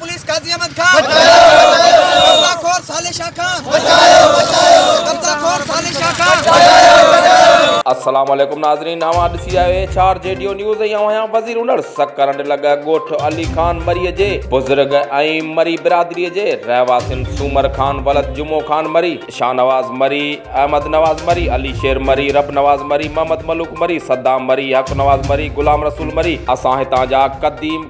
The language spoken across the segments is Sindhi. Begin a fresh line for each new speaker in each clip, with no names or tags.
پوليس قاضي احمد کان قبضا خور صالح شاھ کان قبضا خور صالح شاھ کان. السلام عليڪم ناظرين اوهان ڏسي آهيو ايڇ آر جيڊيو نيوز ۽ اوهان آهيان وزير هنر سڪرنڊ لڳ ڳوٺ علي خان مري جي بزرگ ۽ مري برادري جي رهواسين سومر خان ولد جمعو خان مري شاهنواز مري احمد نواز مري علي شير مري رب نواز مري محمد ملوڪ مري صدام مري حق نواز مري غلام رسول مري اسان هتان جا قديم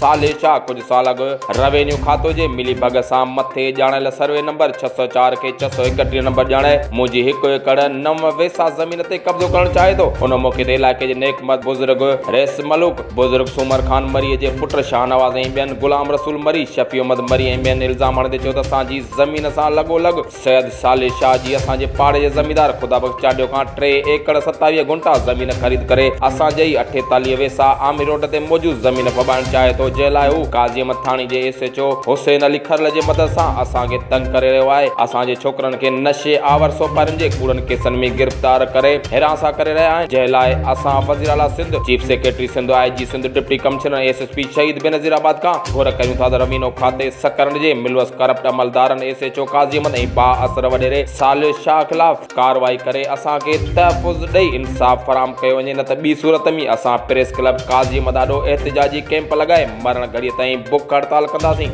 صالح شاهه ڪجهه سال اڳ روينيو کاتو جي ملي ڀڳ سان مٿي ڄاڻايل سروي نمبر ڇهه سؤ چار کي ڇهه سؤ اڪٽيهه نمبر ڄاڻائي منهنجي هڪ ايڪڙ نو ويسا زمين تي قبضو ڪرڻ چاهي ٿو. ان موقعي تي علائقي جي نيڪمرد بزرگ رئيس ملوڪ، بزرگ سومر خان مري جي پٽ شاهنواز ۽ ٻين، غلام رسول مري، شفيع احمد مري ۽ ٻين الزام هڻندي چيو ته اسان جي زمين سان لڳو لڳ سيد صالح شاهه جي اسان جي پاڙي جي زميندار خدا بخش چانڊيو کان ٽي ايڪڙ ستاويهه گهنٽا زمين خريد ڪري اسان جي ئي اٺيتاليهه ويساهه عامر روڊ تي موجود زمين ڦٻائڻ چاهي ٿو جنهن لاء هو قاضي مٿاڻي جي S H O Hussain Ali Kharal جي مدد سان اسان کي تنگ ڪري رهيو آهي اسان جي ڇوڪرن کي نشي آور سوپارين جي ڪوڙن ڪيسن ۾ گرفتار ڪري هراسان ڪري رهيا آهن جنهن لاء اسان وزير اعليٰ Sindh chief secretary Sindh I G Sindh deputy commissioner S S P Shaheed Benazir آباد کان گهر ڪريون ٿا ته روينو کاتي سڪرنڊ جي ملوث ڪرپٽ عملدارن S H O Qazi Ahmed ۽ با اثر وڏيري صالح شاهه خلاف ڪارروائي ڪري اسان کي تحفظ ڏئي انصاف فراهم ڪيو وڃي نه ته ٻي صورت ۾ اسان پريس ڪلب قاضي احمد آڏو احتجاجي ڪيمپ لڳائي مرڻ گهڙي تائين بک هڙتال ڪنداسين.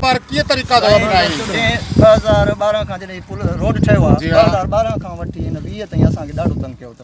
سائين جڏهن ٻه هزار ٻارهن کان جڏهن هي پل روڊ ٺهيو
آهي ٻه هزار
ٻارهن کان وٺي هن ويهه تائين اسان کي ڏاڍو تنگ ڪيو اٿن.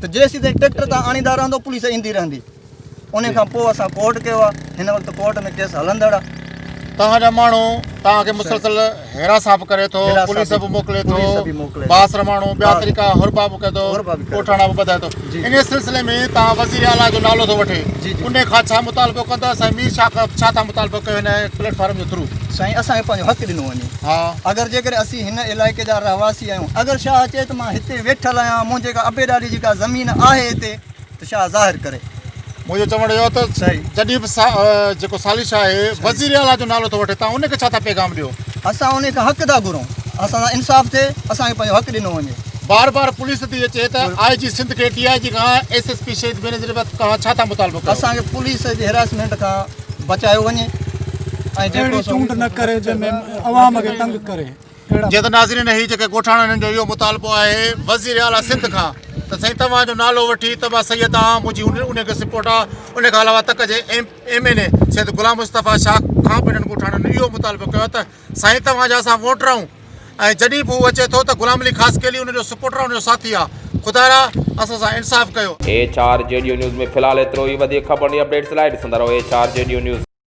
ته جيسيتائين ٽريڪٽر تان آڻيندا رهندو پوليس ايندي رهندي ان کان پوء اسان ڪورٽ ڪيو آهي هن وقت ڪورٽ ۾ ڪيس هلندڙ آهي توهان جا ماڻهو
توهان کي مسلسل هراسان به ڪري ٿو پوليس به موڪلي ٿو بااثر ماڻهو ٻيا طريقا هربا به ڪري ٿو ڳوٺاڻا به ٻڌائي ٿو ان سلسلي ۾ توهان وزير اعليٰ جو نالو ٿو وٺي ان کان ڇا مطالبو ڪندا سائين مير شاهه کان ڇا ٿا مطالبو ڪيو هن پليٽ فارم جي ٿرو سائين اسان کي پنهنجو حق
ڏنو وڃي ها اگر جيڪڏهن اسين هن علائقي جا رهواسي آهيون اگر شاهه چئي ته مان هتي ويٺل آهيان منهنجي ڪا ابي ڏاڏي جي ڪا زمين آهي هتي ته شاهه ظاهر ڪري منهنجو چوڻ اهو ته
جڏهن به جيڪو سالي شاهه آهي وزير اعليٰ جو نالو ٿو وٺي تان ان کي ڇا ٿا پيغام ڏيو اسان ان کان حق
ٿا گهرون اسان سان انصاف ٿئي اسان کي پنهنجو حق ڏنو وڃي بار بار پوليس
ٿي اچي ته آء جي سنڌ کي ڊي آء جي کان S S P Shaheed Benazir Bakhsh کان ڇا ٿا مطالبو ڪيو اسان کي پوليس جي هراسمينٽ
کان بچايو وڃي ۽ جيڪو سو چونڊ نه ڪري جنهن
۾ عوام کي تنگ ڪري.
جي ته ناظرين هي جيڪي ڳوٺاڻن هنن جو اهو مطالبو آهي وزير
اعليٰ
سنڌ کان ته سائين توهان جو نالو وٺي ته مان سيد آهان منهنجي ان ان کي سپورٽ آهي ان کان علاوه تڪ جي M M N A Syed Ghulam Mustafa Shah کان به هنن ڳوٺاڻن اهو مطالبو ڪيو ته سائين توهان جا اسان ووٽ رهون ۽ جڏهن به هو اچي ٿو ته غلام علي خاصخيلي ان جو سپورٽر ۽ ان جو ساٿي آ خدايا اسان سان انصاف ڪيو. ايڇ
آر جي ڊيو نيوز ۾ في
الحال
ايترو ئي وڌيڪ خبرن جي اپڊيٽس لاء ڏسندا رهو ايڇ آر جي ڊيو نيوز.